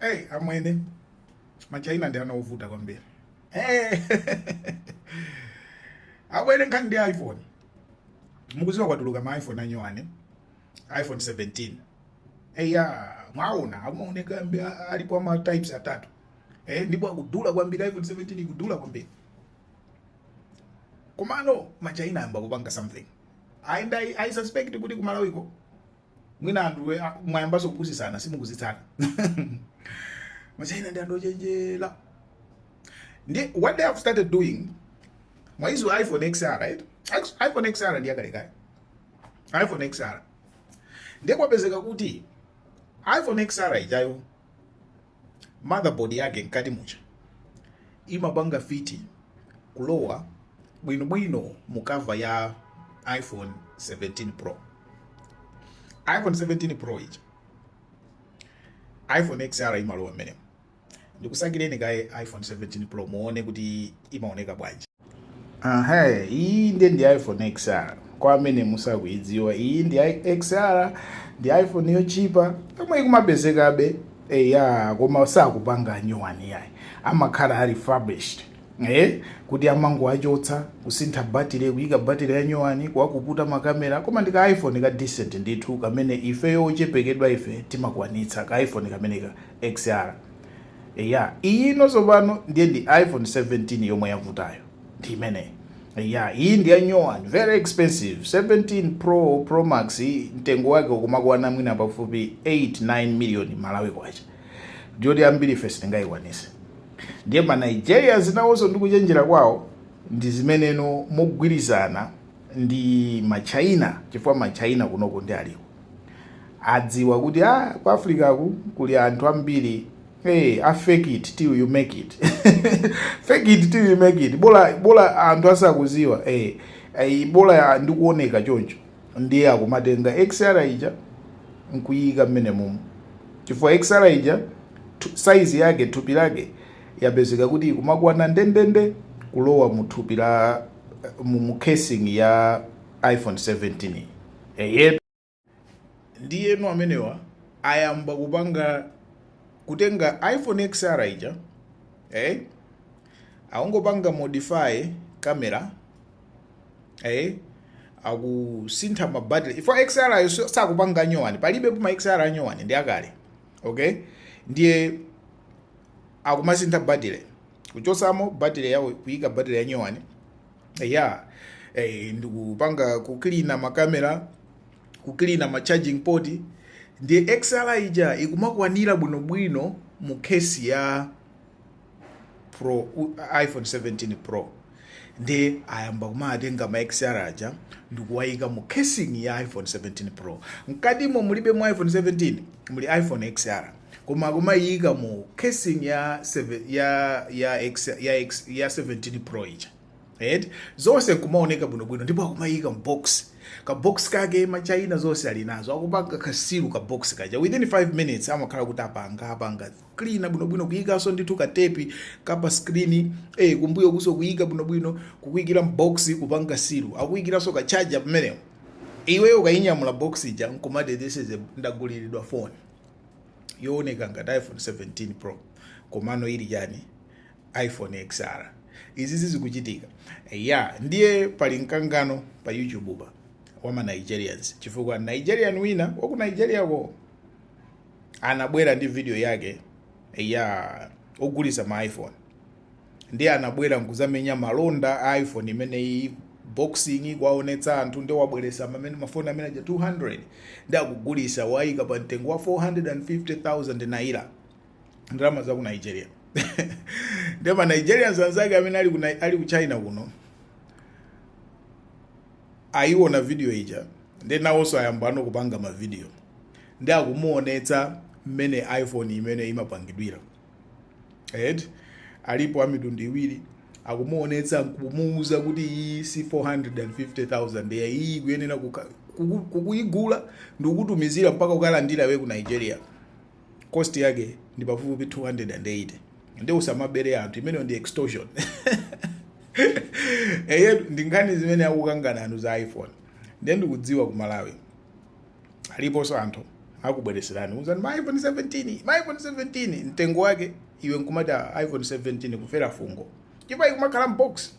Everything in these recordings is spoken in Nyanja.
Hey, amwene machaina ndi ana ovuta kwambiri hey. amwene nkhani ndi iphone mukuziwa kwatuluka ma iphone anyowani iphone 17 eya mwaona mmene amaonekera alipo ama types atatu eh, ndipo akudula kwambiri iphone 17 ikudula kwambiri komano machaina ayamba kupanga something i, I, I suspect kuti kumalawiko mwina anthuwe mwayambanso kupusisana simukuzitsata machaina ndi anthu ochenjera and what they have started doing mwaiziwa iphone xr right iphone xr ndi yakalekale iphone xr ndiye kwapezeka kuti iphone xr ijayo motherboard yake mkati muja imapanga fiti kulowa bwinobwino mu cover ya iphone 17 pro iphone 17 pro ija iphone xr imalowa mmenemu ndikusakireni kaye iphone 17 pro muone kuti imaoneka bwanji aha iyi nde ndi iphone xr kwa amene musakuyidziwa iyi ndi i- xr ndi iphone yochipa yomwe ikumapezekabe eya koma sakupanga nyuwani yayi amakhala ali refurbished eh kuti amangoachotsa kusintha batire kuyika batire ya nyuwani kuwapukuta makamera koma ndi ka iphone ka decent ndithu kamene ifeyo ochepekedwa ife timakwanitsa ka iphone kameneka xr Eya, iyino tsopano ndiye ndi iPhone 17 yomwe yavutayo. Ndi imeneyi. Eya, iyi ndi ya nyowani, very expensive. 17 Pro, Pro Max mtengo wake ukumakwana mwina pafupi 8, 9 million Malawi kwacha. Ndiyoti ambiri ife sitingayikwanise. Ndiye ma Nigerians nawonso ndi kuchenjera kwawo ndi zimenezo mogwirizana ndi ma China chifukwa ma China kunoko ndi aliko. adziwa kuti a ah, ku africa ku kuli anthu ambiri hey, a fake it till you make it fake it till you make it bola bola anthu asakuziwa hey, eh, hey, eh, bola ndikuoneka choncho ndiye akumatenga xr ija nkuyika mmenemumu chifukwa xr ija size yake thupi lake yapezeka kuti ikumakwana ndendende kulowa mu thupi la mu casing ya iphone 17 Eyetu. Ndiyeno amenewa ayamba kupanga kutenga iPhone XR ija eh, akungopanga modify camera eh, akusintha ma battery chifukwa XR ayo so- sakupanga anyowani, palibepo ma XR anyowani ndi akale okay, ndiye akumasintha battery kuchosamo battery yawo kuika battery yanyowani ya eh, ndikupanga kuklina makamera kuklina ma charging port ndiye xr ija ikumakwanira bwinobwino mu case ya pro iphone 17 pro ndiye ayamba kumatenga ma xr aja ndikuwayika mu casing ya iphone 17 pro mkatimo mulibe mu iphone 17 muli iphone xr koma akumaiyika mu casing ya seve- ya ya X, ya, X, ya 17 pro ija right? zonse nkumaoneka bwinobwino ndipo akumayika mbox kabox kake machaina zonse ali nazo akupanga kasilu kabox kaja within 5 minutes amakhala kuti apanga apanga clean bwinobwino kuyikaso ndithu katepi kapa screen eh, kumbuyo kuso kuyika bwinobwino kukuyikira mbox kupanga silu akuyikiranso kachaja pamenepo iweyo ukayinyamula box ija nkumati this is a ndaguliridwa phone yooneka ngati iphone 17 pro komano ili chani iphone xr izi zikuchitika ya ndiye pali mkangano pa youtube pa wama nigerians chifukwa nigerian wina waku nigeria ko anabwera ndi video yake ya ogulisa ma iphone ndiye anabwera nkuzamenya malonda a iphone imeneyi unboxing kuwaonetsa anthu ndi wabweresa mafoni amene aja 200 ndi akugulisa wayika pa mtengo wa 450000 naira ndalama za ku nigeria ndiye ma nigerians anzake amene ali ku, Ni- ali ku china kuno ayiona video ija ndi nawonso ayambano kupanga mavidiyo ndi akumuonetsa mmene iphone imene imapangidwira and alipo a mitundu iwiri akumuonetsa nkumuuza kuti iyi si 450000 ayi iyi kuyenera kuka- kuku- kukuyigula ndi kukutumizira mpaka ukalandira iwe ku nigeria cost yake ndi pafupifupi 280 ndi usamabere anthu imeneyo ndi extortion eye ndi nkhani zimene akukangana anthu za iphone ndiye ndikudziwa ku malawi aliponso anthu akubwereserani uzani ma iphone 17 ma iphone 17 mtengo wake iwe nkumati "Ah, iphone 17 kufera fungo chipa ikumakhala mbox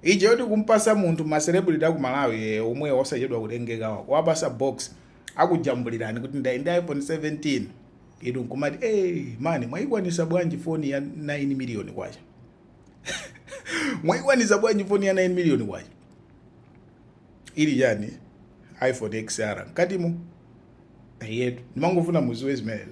ija yoti kumpasa munthu ma celebrity aku malawi eh, omwe osachedwa kutengeka wa wapasa box akujambulirani kuti ndayenda ndi iphone 17 inu nkumati hey, mani mwayikwanisa bwanji foni ya 9 miliyoni kwacha mwayikwanisa bwanji foni ya 9 miliyoni kwacha ili chani iphone xr mkatimo eyetu ndimangofuna muziwe zimenezo